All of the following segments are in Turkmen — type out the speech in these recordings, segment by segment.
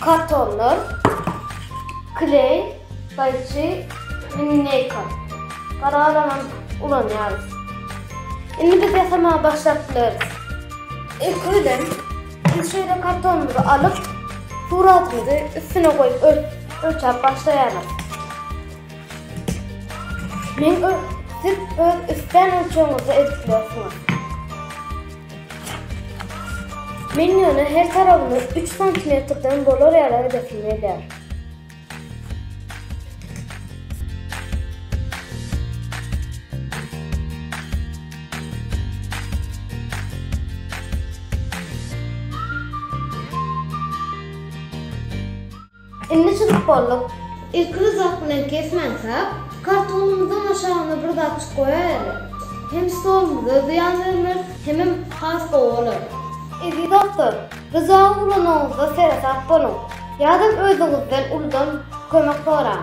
Kartonlar, kleý, gaýçy, linýeýka. Garalanam ulanýarys. Indi biz ýasamaga başlap bileris. Ilki bilen biz şeýle kartonymyzy alyp, suratymyzy üstüne goýup ölçäp başlaýarys. Men siz öz isleýän ölçegiňizde edip bilersiňiz. Men ýöne her tarabyny üç santimetrden bolar ýaly edesim gelýär. Indi çyzyp bolduk. Ilki ryzak bilen kesmän sap, kartonymyzyň aşagyna bir zatjyk goýaýaly. Hem stolumyza zyýan bermez, hemem has gowy bolar. Eziz dostlar, ryzagy ulanyňyzda seresap boluň, ýa-da özüňizden uludan kömek soraň.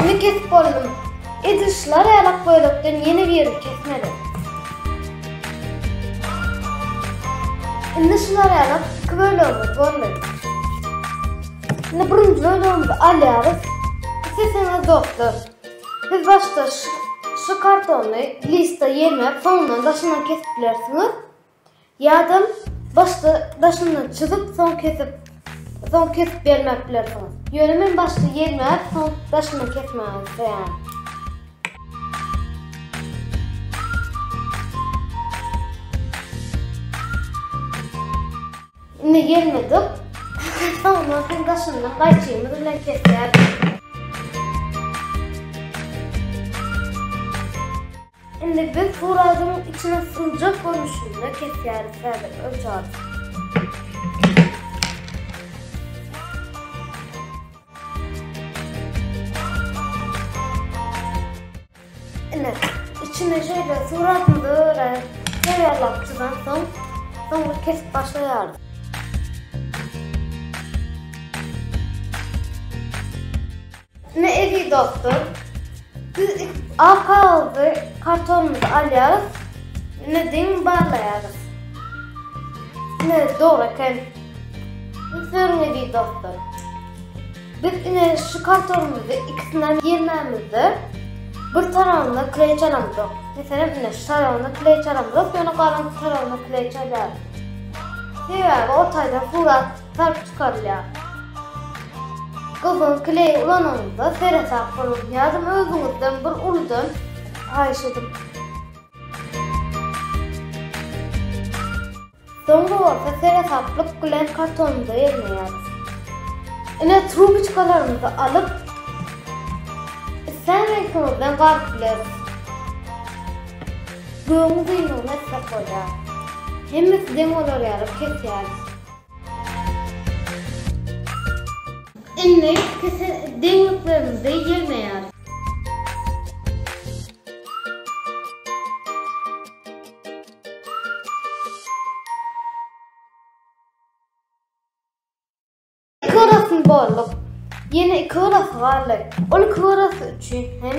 Indi kesip boldum. Edil şular ýaly ak gözlükden ýene birini kesmeli. Indi şular ýaly iki bölegimiz boldy. Indi birinji bölegimizi alýarys. Sesiniz dostlar. Siz başda şu kartony lista ýerine soňundan daşyndan kesip bilersiňiz. Ýa-dam başda daşyndan çyzyp soň kesip soň kesip bermäp bilersiňiz. Ýöne men başda ýelmäp soň daşyndan kesmegi isleýärin. Indi ýelmedik. Soňundan soň daşyndan gaýçymyz bilen kesýäris. Indi biz bu razyň içini syljak görnüşinde kesýäris häzir ölçaryp. Indi içine şeýle suratymyzy öre taýýarlap çyzan soň, soňra kesip başlaýarys. Ine eziz dostlar, biz ak kagyzy, kartonymyzy alýarys. Ine diň barlaýarys. Ine dogry eken. Indi görüň eziz dostlar. Biz ine şu kartonymyzy ikisine ýermämizde bir tarabynda kleý çalamzok. Meselem ine şu tarabynda kleý çalamzok, ýöne galan tarabyna kleý çalýarys. Sebäbi o taýdan surat Sarp çykarylýar. Gyzyl kleý ulanyňyzda seresap boluň, ýazym özüňizden bir uludan haýyş ediň. Soňra bolsa seresaplyk bilen kartonymyza ýygnaýarys. Ine trubiçkalarymyzy alyp, islän reňkimizden garyp bileris. Gögüň gyýmygyny etmek bolýar. Hemmesi deň bolar ýaly kesýäris. Indi kese deňliklerimizi ýygnaýarys. Kyrasyn borluk. Ýene iki gyrasy galdy. Ol iki gyrasy üçin hem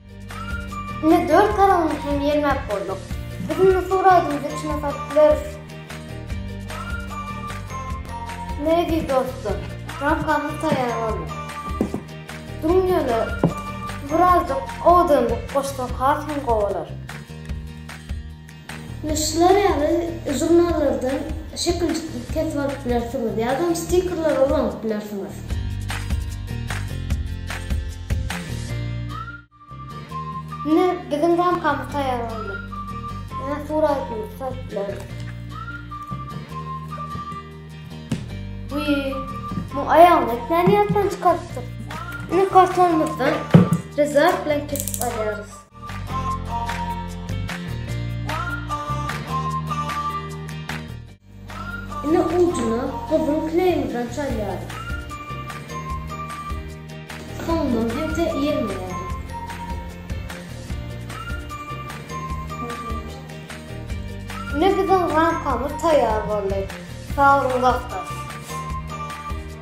Indi dört taragyny hem ýermäp bolduk. Biz indi suw raýdymyzy içine salyp bileris. Negi dostlar, ramkamyz taýýar boldy. Duruň ýöne birazjyk owadanlyk goşsak has hem gowy bolar. Ine şular ýaly žurnallardan şekiljikleri kesip alyp bilersiňiz ýadam stikerleri ulanyp bilersiňiz. Ine biziň ramkamyz taýýar boldy. Ýöne suratymyzy salyp bileris. Wiý, muň aýagyny etmän ýatdan çykarypdyk. Ine kartonymyzdan rezak bilen kesip alýarys. Ine ujuna gyzyl kleýimizden çalýarys. Soňundan hemçe ýermeýäris. Ine biziň ramkamyz taýýar boldy. Sag boluň dostlar.